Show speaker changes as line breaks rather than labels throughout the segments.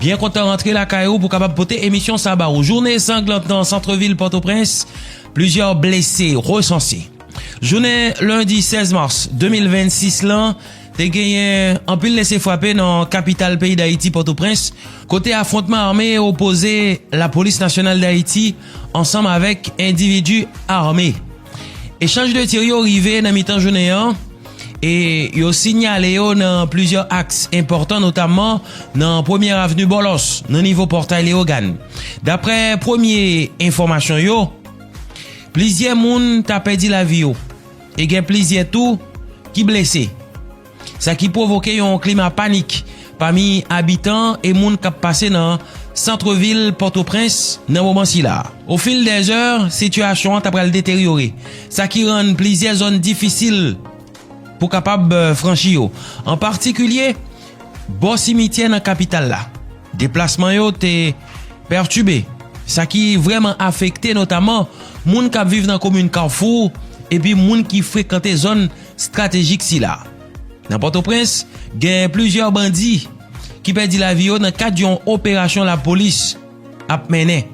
Byen kontan rantre lakay ou pou kapab pote emisyon sa ba ou. Joune sanglant nan santre vil Potoprens, plizyè blese resanse. Joune lundi 16 mars 2026 lan, te genyen anpil lese fwape nan kapital peyi Dayiti Potoprens, kote afrontman ame opoze la polis nasyonal Dayiti, ansanm avèk endividi ame. Echanj de tir yo rive nan mitan jounen an e yo sinyale yo nan plizyè aks enpòtan notamman nan premyè avni Bòlòs nan nivo Pòtay Leyogàn. Daprè premye enfòmasyon yo, plizyè moun ta pèdi lavi yo e gen plizyè tou ki blese. Sa ki pwovoke yon klima panik pami abitan e moun kap pase nan santre vil Pòtoprens nan moman sila. O fil dè zè, sitiyasyon an ta pral deteryore, sa ki rann plizyè zòn difisil pou kapab franchi yo, an patikilye bò simityè nan kapital la. Deplasman yo te pètibe, sa ki vreman afekte notaman moun kap viv nan komin Carrefour epi moun ki frekante zòn stratejik sila. Nan Pòtoprens, gen plizyè bandi ki pèdi lavi yo nan kad yon operasyon lapolis ap mennen.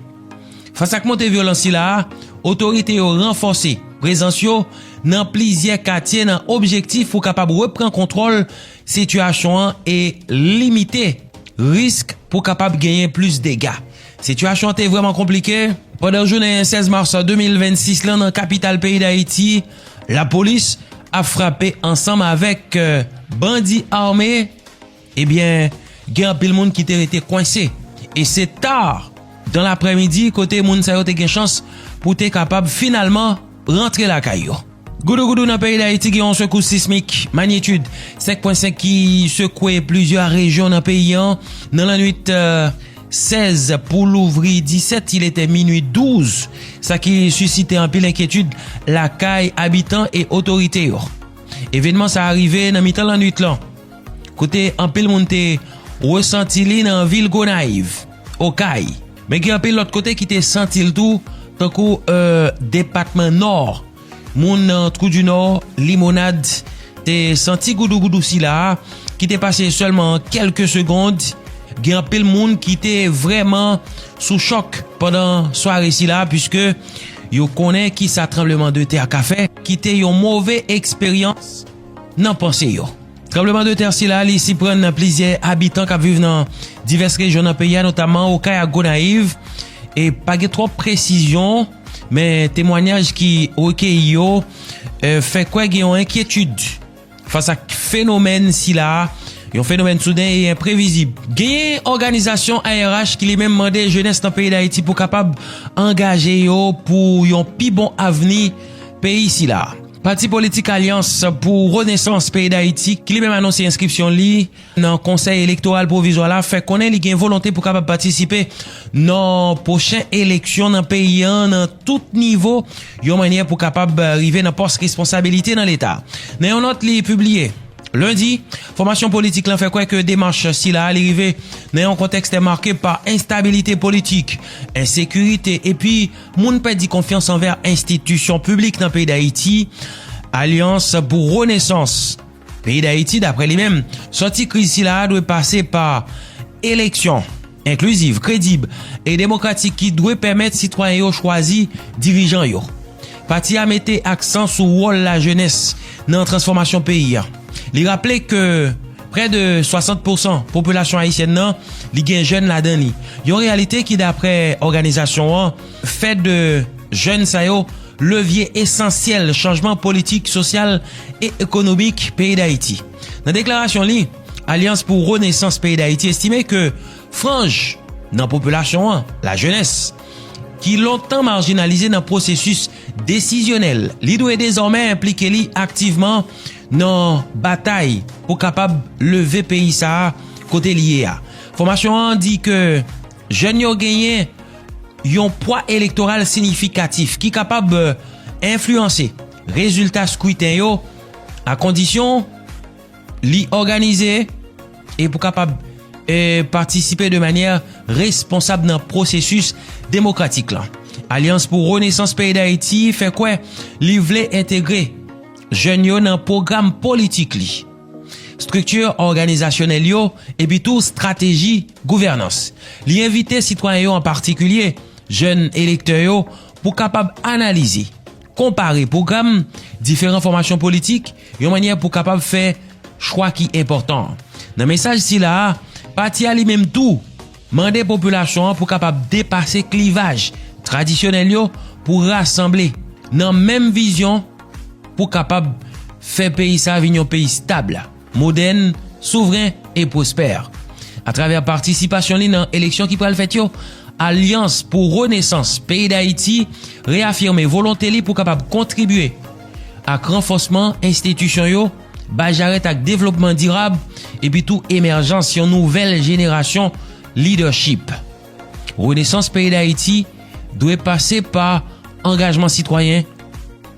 Fas ak monte vyolans sila, otorite yo ranfòse prezans yo nan plizyè katye nan objektif pou kapab repran kontwòl sitiyasyon an e limite risk pou kapab genyen plis dega. Sitiyasyon an te vrèman konplike pandan jounen 16 mas 2026 lan nan kapital peyi Dayiti. Lapolis ap frape ansanm avèk bandi ame ebyen gen anpil moun ki te rete kwense e se ta dan lapremidi kote moun sa yo te gen chans pou te kapab finalman rantre lakay yo. Goudou goudou nan peyi Dayiti gen yon sekous sismik manyitid 5.5 ki sekwe plizyè rejyon nan peyi an nan lanwit. 16 pou louvri 17 il etè minui 12, sa ki sisite anpil enkyetid lakay abitan e otorite yo. Evenman sa a rive nan mitan lannwit lan, kote anpil moun te resanti li nan vil Gonayiv, Okay, men gen anpil lòt kote ki te santi l tou tankou depatman Nò. Moun nan Trou du Nord, Limonad, te santi goudougoudou sila a ki te pase sèlman an kèlke segond. Gen anpil moun ki te vrèman sou chòk pandan sware sila a puiske yo konnen ki sa tranbleman de tè a ka fè. Kite yon move eksperyans nan panse yo. Tranbleman de tè sila a li siprann plizyè abitan k ap viv nan divès rejyon nan peyi a notamman Okay ak Gonayiv e pa gen twòp presizyon. Men temwanyaj ki rekeyi yo fè kwè gen yon enkyetid fas ak fenomèn sila a, yon fenomèn souden e enprevizib. Genyen òganizasyon ARH ki li menm mande jenès nan peyi Dayiti pou kapab angaje yo pou yon pi bon avni peyi sila a. Pati politik Alyans pou Renesans peyi Dayiti ki li menm anonse enskripsyon li. nan Konsèy Elektoral Pwovizwa la fè konnen li gen volonte pou kapab patisipe nan pwochen eleksyon nan peyi an nan tout nivo yon mannyè pou kapab rive nan pòs responsabilite nan leta. Nan yon nòt li pibliye Lendi, fòmasyon politik lan fè kwè ke demach sila li rive nan yon kontèks te make pa enstabilite politik, ensekirite epi moun pèdi konfyans anvè enstitisyon piblik nan peyi Dayiti. Alyans pou Renesans. Peyi Dayiti, daprè li menm, sòti kriz sila a dwe pase pa eleksyon enkliziv, kredib e demokratik ki dwe pèmèt sitwayen yo chwazi dirijan yo. Pati a mete aksan sou wòl lajenès nan transfòmasyon peyi a. Li raple ke prè de 60 pousan popilasyon ayisyèn nan li gen jèn ladan li. Yon reyalite ki daprè òganizasyon an fè de jèn sa yo, levye esansyèl chanjman politik, sosyal e ekonomik peyi Dayiti. Nan deklarasyon li, Alyans pou Renesans peyi Dayiti estime ke franj nan popilasyon an, la jenès, ki lontan marjinalize nan pwosesis desizyonèl, li dwe dezòmè enplike li aktivman nan batay pou kapab leve peyi sa a kote li ye a. Fòmasyon an di ke. Jèn yo genyen yon pwa elektoral sinifikatif ki kapab enfliyanse rezilta skwiten yo a kondisyon li òganize e pou kapab patisipe de manyè responsab nan pwosesis demokratik lan. Alyans pou Renesans Peyi Dayiti fè kwè li vle entegre jèn yo nan pwogram politik li, estrikti òganizasyonèl yo epitou estrateji. Gouvènans. Li envite sitwayen yo an patikilye jèn elektè yo pou kapab analize, konpare pwogram diferan fòmasyon politik yon mannyè pou kapab fè chwa ki enpòtan. Nan mesaj sila a, pati a li menm tou mande popilasyon an pou kapab depase klivaj tradisyonèl yo pou rasanble nan menm vizyon pou kapab fè peyi sa vin yon peyi stab. modèn, souvren e pwospè. Atravè patisipasyon li nan eleksyon ki pral fèt yo, Alyans pou Renesans peyi Dayiti reyafime volonte li pou kapab kontribye ak ranfòsman enstitisyon yo, bay jarèt ak devlopman dirab epi tou emèjans yon nouvèl jenerasyon lidèchip. Renesans peyi Dayiti dwe pase pa angajman sitwayen,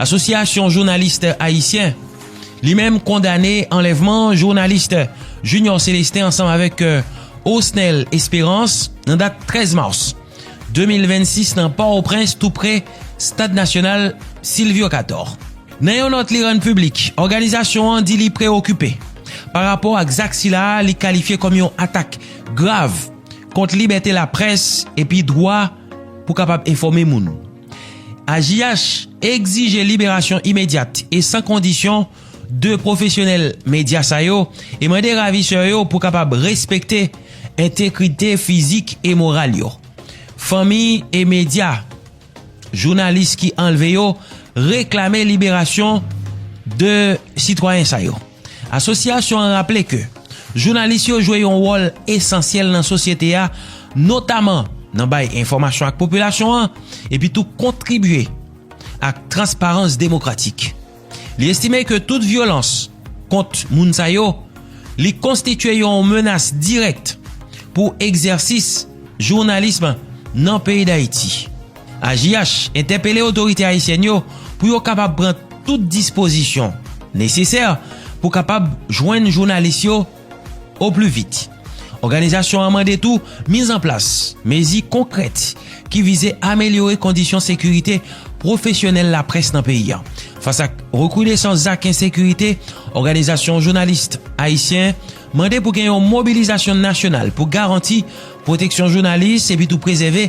Asosyasyon jounalis ayisyen li menm kondane anlèvman jounalis Junior Celestin ansanm avèk Osnel Esperance nan dat 13 mas 2026 nan Pòtoprens tou pre stad nasyonal Sylvio Cator. Nan yon nòt li rann piblik, òganizasyon an di li preyokipe pa rapò ak zak sila li kalifye kòm yon atak grav kont libète laprès epi dwa pou kapab enfòme moun. AJH egzije liberasyon imedyat e san kondisyon 2 pwofesyonèl medya sa yo e mande ravisè yo pou kapab respekte entekrite fizik e moral yo. Fanmi e medya jounalis ki anlve yo reklame liberasyon 2 sitwayen sa yo. Asosyasyon an raple ke jounalis yo jwe yon wòl esansyèl nan sosyete a, notaman nan bay enfòmasyon ak popilasyon an, epi tou kontribye ak transparans demokratik. Li estime ke tout vyolans kont moun sa yo, li konstitye yon menas dirèk pou egzèsis jounalism nan peyi Dayiti. AJH entèpele otorite ayisyèn yo pou yo kapab pran tout dispozisyon nesesè pou kapab jwenn jounalis yo o pli vit. Òganizasyon an mande tou miz an plas mezi konkrèt ki vize amelyore kondisyon sekirite pwofesyonèl laprès nan peyi a. Fas ak rekrudesans zak ensekirite, òganizasyon jounalis ayisyen mande pou gen yon mobilizasyon nasyonal pou garanti pwoteksyon jounalis epitou prezève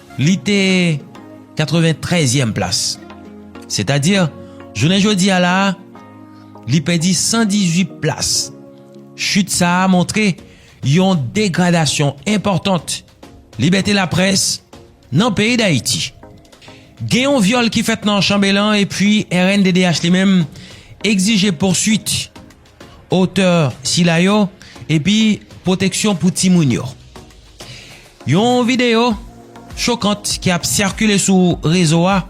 Li te 93 yèm plas. Setadi, jounen jodi a la a, li pèdi 118 plas. Chit sa a montre yon degradasyon enpòtant libète laprès nan peyi Dayiti. Gen yon vyòl ki fèt nan Chanbelan epi rnddh li menm egzije pouswit otè sila yo epi pwoteksyon pou timoun yo. Yon videyo chokant ki ap sikile sou rezo a,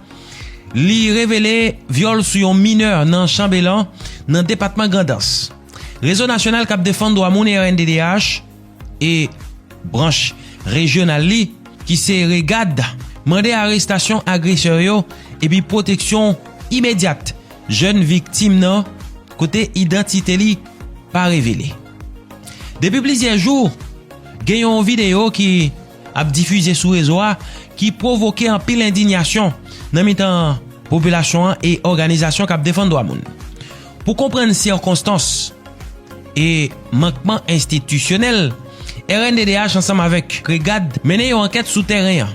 li revele vyòl sou yon minè nan Chanbelan, nan depatman Grandans. Rezo Nasyonal k ap Defann Dwa Moun, rnddh, e branch rejyonal li ki se REGAD mande arestasyon agresè yo epi pwoteksyon imedyat jèn viktim nan kote idantite li pa revele. Depi plizyè jou gen yon videyo ki. ap difize sou rezo a ki pwovoke anpil endinyasyon nan mitan popilasyon an e òganizasyon k ap defann dwa moun. Pou konprann sikonstans e mankman enstitisyonèl, rnddh ansanm avèk KREGAD mennen yon ankèt sou tèren an.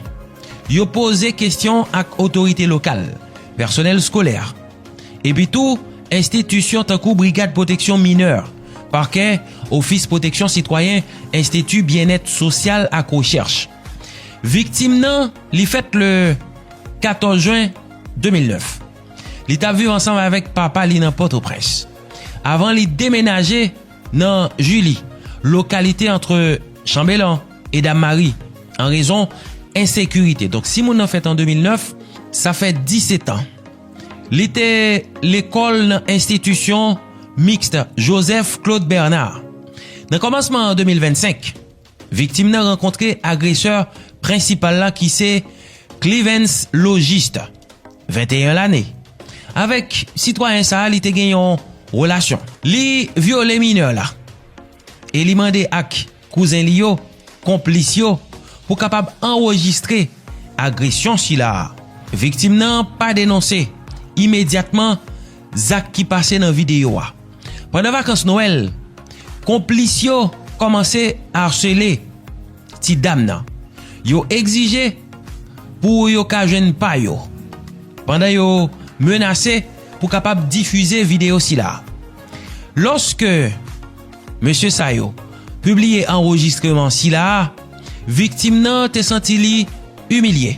Yo poze kesyon ak otorite lokal, pèsonèl skolè, epitou enstitisyon tankou brigad pwoteksyon minè. Pakè, Ofis Pwoteksyon Sitwayen, Enstiti Byennèt Sosyal ak Rechèch. Viktim nan, li fèt le 14 jen 2009. Li t ap viv ansanm avèk papa li nan Pòtoprens. Avan li demenaje nan Jili, lokalite antre Chanbelan e Dammari, an rezon ensekirite. Donk si moun nan fèt an 2009, sa fè 17 an. Li te lekòl nan enstitisyon Mixte Joseph Claude Bernard. Nan kòmansman 2025, viktim nan rankontre agresè prensipal la ki se Clivens Logiste, 21 lane. Avèk sitwayen sa li te gen yon relasyon. Li vyole minè la. e li mande ak kouzen li yo, konplis yo, pou kapab anrejistre agresyon sila a. Viktim nan pa denonse imedyatman zak ki pase nan videyo a. Pandan vakans Nwèl, konplis yo kòmanse arsele ti dam nan. Yo egzije pou yo ka jwenn pa yo, pandan yo menase pou kapab difize videyo sila a. Lòske mesye sa yo pibliye anrejistreman sila a, viktim nan te santi li imilye,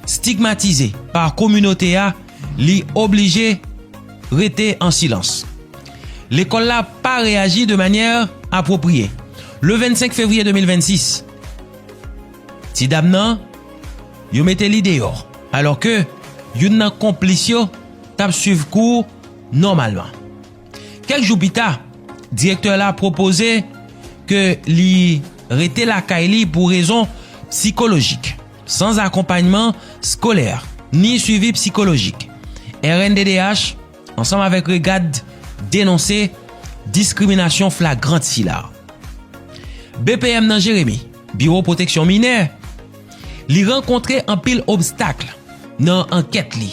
stigmatize pa kominote a, li oblije rete an silans. Lekòl la pa reyaji de manyè apwopriye. Le 25 fevriye 2026, ti dam nan, yo mete li deyò, alòke youn nan konplis yo t ap swiv kou. nòmalman. Kèk jou pita, direktè la pwopoze ke li rete lakay li pou rezon psikolojik, san akonpanyman skolè, ni swivi psikolojik. Rnddh, ansanm avèk REGAD, denonse diskriminasyon flagrant sila. BPM nan Jeremi, Biwo Pwoteksyon Minè, li rankontre anpil obstakl nan ankèt li.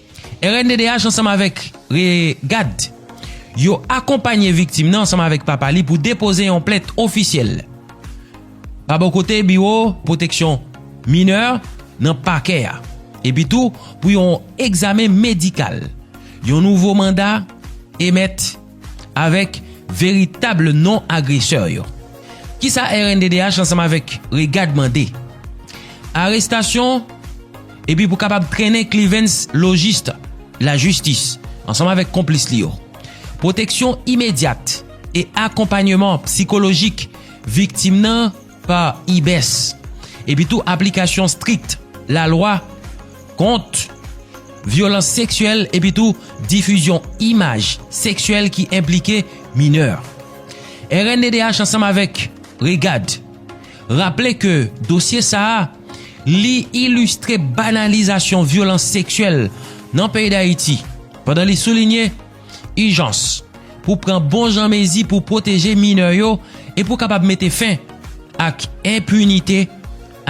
Rnddh ansanm avèk REGAD yo akonpanye viktim nan ansanm avèk papa li pou depoze yon plent ofisyèl pa bò kote biwo pwoteksyon minè nan pakè a epi tou pou yon egzamen medikal. Yon nouvo manda emèt. avèk veritab non agresè yo. Kisa rnddh ansanm avèk REGAD mande? Arestasyon epi pou kapab trennen Clivens Logiste lajistis ansanm avèk konplis li yo. Pwoteksyon imedyat e akonpanyeman psikolojik viktim nan pa ibes epi tou aplikasyon strik la lwa kont vyolans seksyèl epi tou difizyon imaj seksyèl ki enplike minè. Rnddh ansanm avèk REGAD raple ke dosye sa a li ilistre banalizasyon vyolans seksyèl nan peyi Dayiti pandan li soulinye Ijans, Pou pran bon jan mezi pou pwoteje minè yo e pou kapab mete fen ak enpinite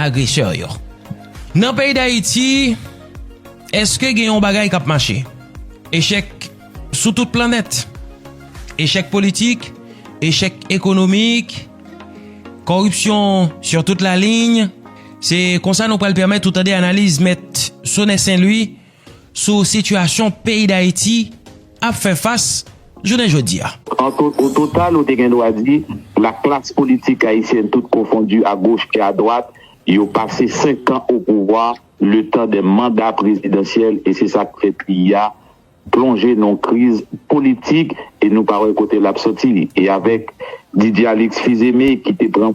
agresè yo. Nan peyi Dayiti, eske gen yon bagay k ap mache? Echèk sou tout planèt. Echèk politik, echèk ekonomik, koripsyon sur tout la ligne. Se konsa nou pral pèmèt ou tande analiz mèt Sonè Senlwi. sou sitiyasyon peyi Dayiti ap fè fas jounen jodi a. O total
ou te gen dwa di la klas politik ayisyèn tout konfondi a goch e a dwat yo pase 5 kan o pouvwa le tan de manda prezidansyèl e se sa k fè peyi a plonje nan w kriz politik e nou pa wè kote l ap soti e avèk Didier Alix Fils-Aimé ki te pran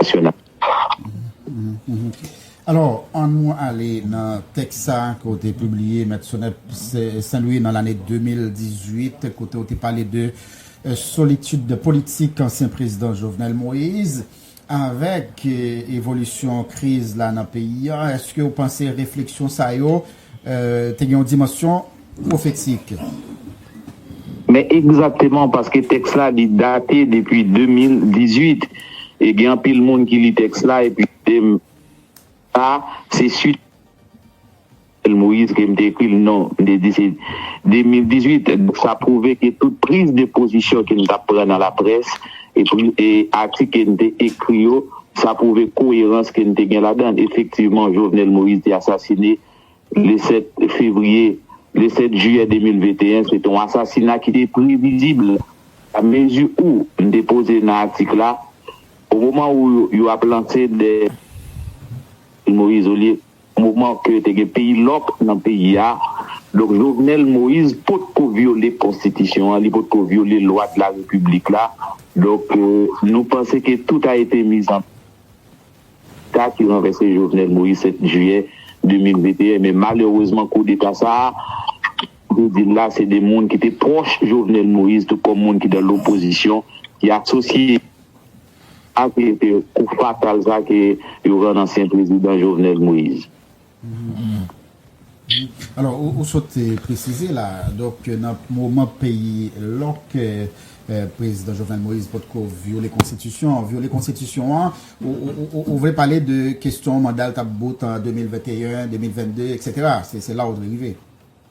nasyonal. Alò, an nou ale nan tèks sa a ke w te pibliye, Mèt Sonèt Sen Lwi, nan lane 2018, kote w te pale de solitid politik ansyen prezidan Jovenel Moïse. Avèk evolisyon kriz la nan peyi a, èske w panse refleksyon sa yo te gen yon dimansyon pwofetik.
Men egzakteman, paske tèks la li date depi 2018, e gen anpil moun ki li tèks la epi mande m sa se suit a Jovenel Moïse ke m te ekri l? Non, m te di se 2018. Donk sa pwouve ke tout priz de pozisyon ke m t ap pran nan laprès e atik ke m te ekri yo Sa pwouve koyerans ke n te gen ladan l. Efektivman, Jovenel Moïse te asasine le 7 fevriye, le 7 jiyè 2021. Se te yon asasina ki te previzib. La mezi ou, m te poze nan atik la, o moman ou yo ap lanse dèyè Jovenel Moïse, olye. Moman ke te gen peyi lòk nan peyi a, donk Jovenel Moise potko vyole konstitisyon an, li potko vyole lwa de la repiblik la, donk nou panse ke tout a ete mis en sa ki ranvèse Jovenel Moise 7 jiyè 2021, men malerezman koudeta sa a, pou di l la, se 2 moun ki te pwòch Jovenel Moise, tout kòm moun ki dan lopozisyon, ki asosye. Ak li se kou fatal sa ke yo rann ansyen prezidan Jovenel Moise. Wi,
alò ou sot presize la, donk nan moman peyi lòk prezidan Jovenel Moise potko vyole konstitisyon an, vyole konstitisyon an, ou vle pale de kestyon mandal tap bout an 2021, 2022, eksetera, se la ou vle rive?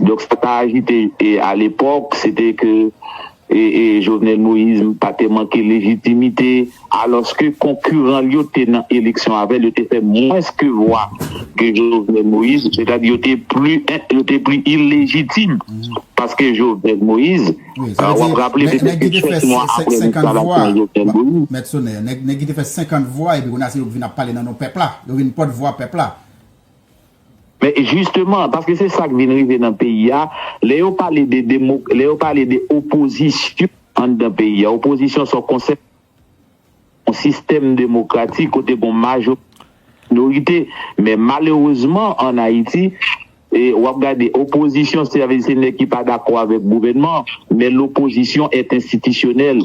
Donk sa ta ajoute e a lepòk se te ke e e Jovenel Moïse pa te manke lejitimite alòske konkiran l yo te nan eleksyon avè l yo te fè mwens ke vwa ke Jovenel Moïse sètadi yo te pli en yo te pli ilejitim paske Jovenel Moïse a w ap raple se te ke 7 mwa apre
enstalasyon Jovenel Moïse. Mèt Sonè, nèg nèg ki te fè 50 vwa epi kounye a se yo ki vin ap pale nan non pèp la yo vin pòt vwa pèp la.
Men jisteman, paske se sa k vin rive nan peyi a, lè yo pale de demo, lè yo pale de opozisyon anndan peyi a, opozisyon se yon konsèp, yon sistèm demokratik kote gon majorite, gon minorite. Men malerezman ann Ayiti, w ap gade opozisyon, sa vle di se nèg ki pa dakò avèk gouvènman an, men lopozisyon èt enstitisyonèl.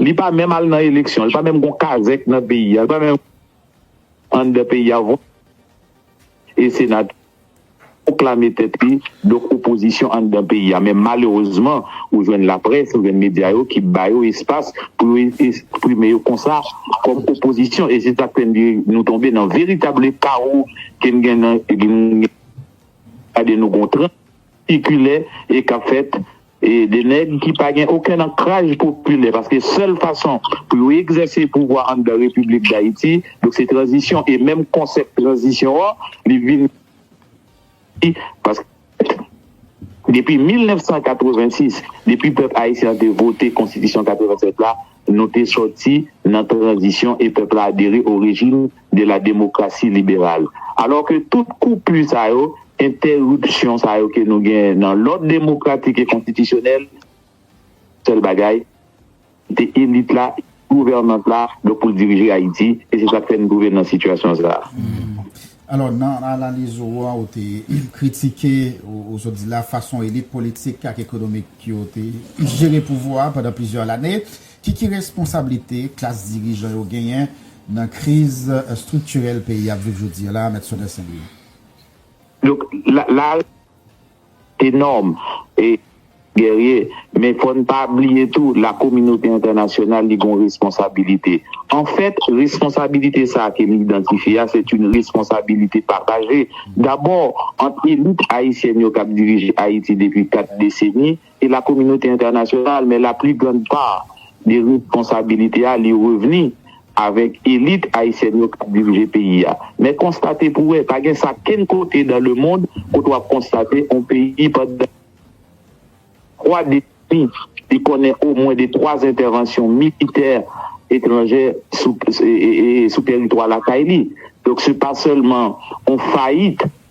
Li pa menm al nan eleksyon, li pa menm gon kazèk nan peyi a, li pa menm anndan peyi a vòt e senatè pwoklame tèt li donk opozisyon anndan peyi a men malerezman ou jwenn laprès, ou jwenn medya yo ki ba yo espas pou yo esprime yo konsa kòm opozisyon e se sa k fè n di nou tonbe nan veritable kawo ke n gen nan gade nou gon transikilè e k ap fèt De nèg ki pa gen okenn ankraj popilè, paske sèl fason pou yo egzèse pouvwa anndan Repiblik Dayiti, donk se tranzisyon, e menm konsèp tranzisyon an, li vin di, paske depi 1986, depi pèp ayisyen an te vote Konstitisyon 87 la, Nou te sòti nan tranzisyon e pèp la adere o rejim de la demokrasi liberal. Alò ke tout koupu sa yo, entèripsyon sa yo ke nou gen nan lòd demokratik e konstitisyonèl, sèl bagay, te elit la, gouvènans la, donk pou l dirije Ayiti, e se sa k fè n twouve n nan sitiyasyon sa a. Alò,
nan analiz ou an, ou te kritike, ou sot di la, fason elit politik ak ekonomik yo te jere pouvwa a pandan plizyè lane. Ki ki responsablite klas dirijan yo genyen nan kriz estriktirèl peyi a ap viv jodi a la a, Mèt Soner St-Louis? Donk,
la a. Enorme e guerrier men fò n pa bliye tou la kominote entènasyonal li gon responsabilite an fèt responsabilite sa a ke m idantifye a se t yn responsabilite pataje dabò ant elit ayisyèn yo k ap dirije Ayiti depi 4 deseni E la kominote entènasyonal men la pli grand pa de responsabilite a li revni avèk elit ayisyèn yo kap dirije peyi a. Men konstate pou wè, pa gen sa kenn kote dan le mond kote wap konstate on peyi pandan 3 deseni li konnen o mwen de 3 entèvansyon militè etranjè sou teritwa lakay li. Donk se pa sèlman on fayit.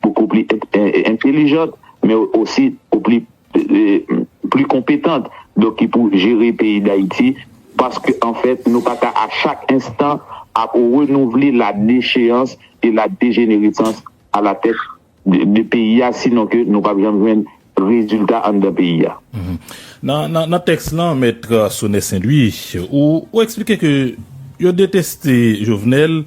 pou pou pli entelijant men osi pou pli pli konpetant donk ki pou jere peyi dayiti paske anfèt nou pa ka a chak enstan ap renouvle la decheyans e la dejeneresans a la tèt de peyi a sinon ke nou pap janm jwenn rezilta anndan peyi a.
Nan tèks lan mèt Sonè Senlwi ou eksplike ke yo deteste Jovenel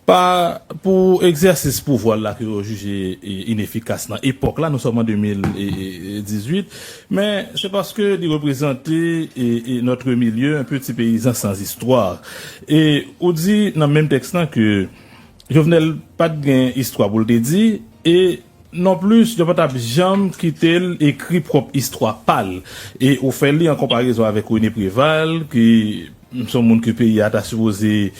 Pa pou egzèsis pouvwa l la ke yo jije inefikas nan epòk la, nou sòm an 2018, men se paske li reprezante notre milieu un peu ti peyizan sans histoire. E ou di nan menm tèks lan ke Jovenel pa t gen istwa pou l te di e Non plis, yo pa t ap janm kite l ekri pwòp istwa pa l. E ou fè li an konparezon avèk Rene Preval, ki s on moun ke peyi a ta sipoze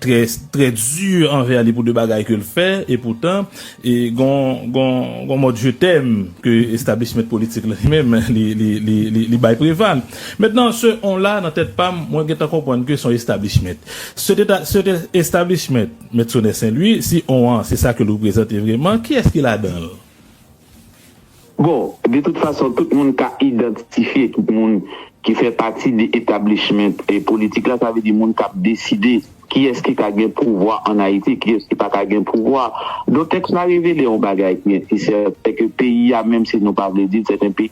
trè trè di anvè li pou de bagay ke l fè. E poutan, gen on mòd je t'aime ke establishment politik la li menm li bay Preval. Mentnan, se on la nan tèt pa m, mwen gentan konprann ke s on establishment. Se te establishment. Mèt Sonè Sen Lwi, si on an se sa ke l reprezante vreman, kiyès ki ladan l?
Bon, de tout fason, tout moun ka idantitifye tout moun ki fè pati de etablishment politik la, sa vle di moun k ap deside kiyès ki ka gen pouvwa an Ayiti, kiyès ki pa ka gen pouvwa. Donk tèks la revele on bagay ki entisèten, se ke peyi a, menm si nou pa vle di l, sèten peyi.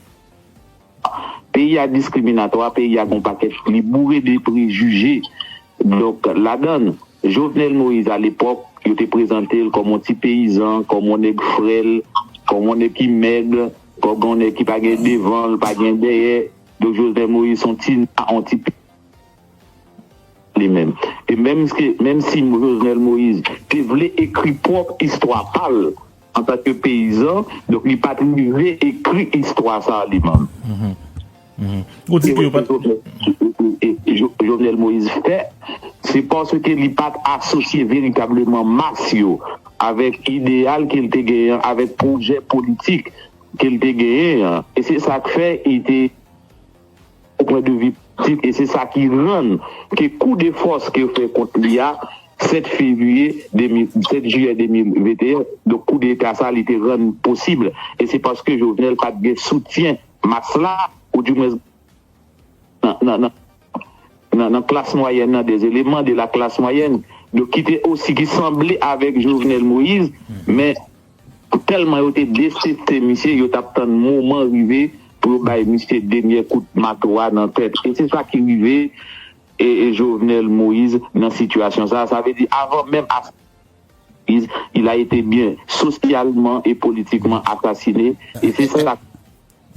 Peyi a diskriminatwa, peyi a gon pakèt li boure de prejije donk ladann Jovenel Moïse a lepòk yo te prezante l kòm on ti peyizan, kòm on nèg frèl, kòm on nèg ki mèg, kòg on nèg ki pa gen devan l pa gen dèyè donk Jovenel Moïse son ti na on ti pi li menm e menm menm si Jovenel Moïse te vle ekri pwòp istwa pa l Antan ke peyizan, donk li pat rive ekri istwa sa a li menm. Ou di ke yo pat. Jovenel Moïse fè, se paske li pat asosye veritableman mas yo avèk ideyal ke li te genyen an, avèk pwojè politik ke li te genyen an. E se sa k fè li te. Pou pwen de vi ptit e se sa ki rann ke kou de fòs ke yo fè kont li a 7 fevriye 2000 7 jiyè 2021 donk kou deta sa li te rann posib e se paske Jovenel pat gen soutyen mas la ou di mwens nan nan nan klas mwayèn nan de eleman de la klas mwayèn donk ki te osi ki sanble avèk Jovenel Moïse men. Tèlman yo te deteste misye, yo t ap tann moman rive pou yo bay misye denyè kout mato a nan tèt. E se sa ki rive Jovenel Moise nan sitiyasyon sa a. Sa vle di avan menm asasina Jovenel Moise, il a été bien socialement et politiquement assassiné.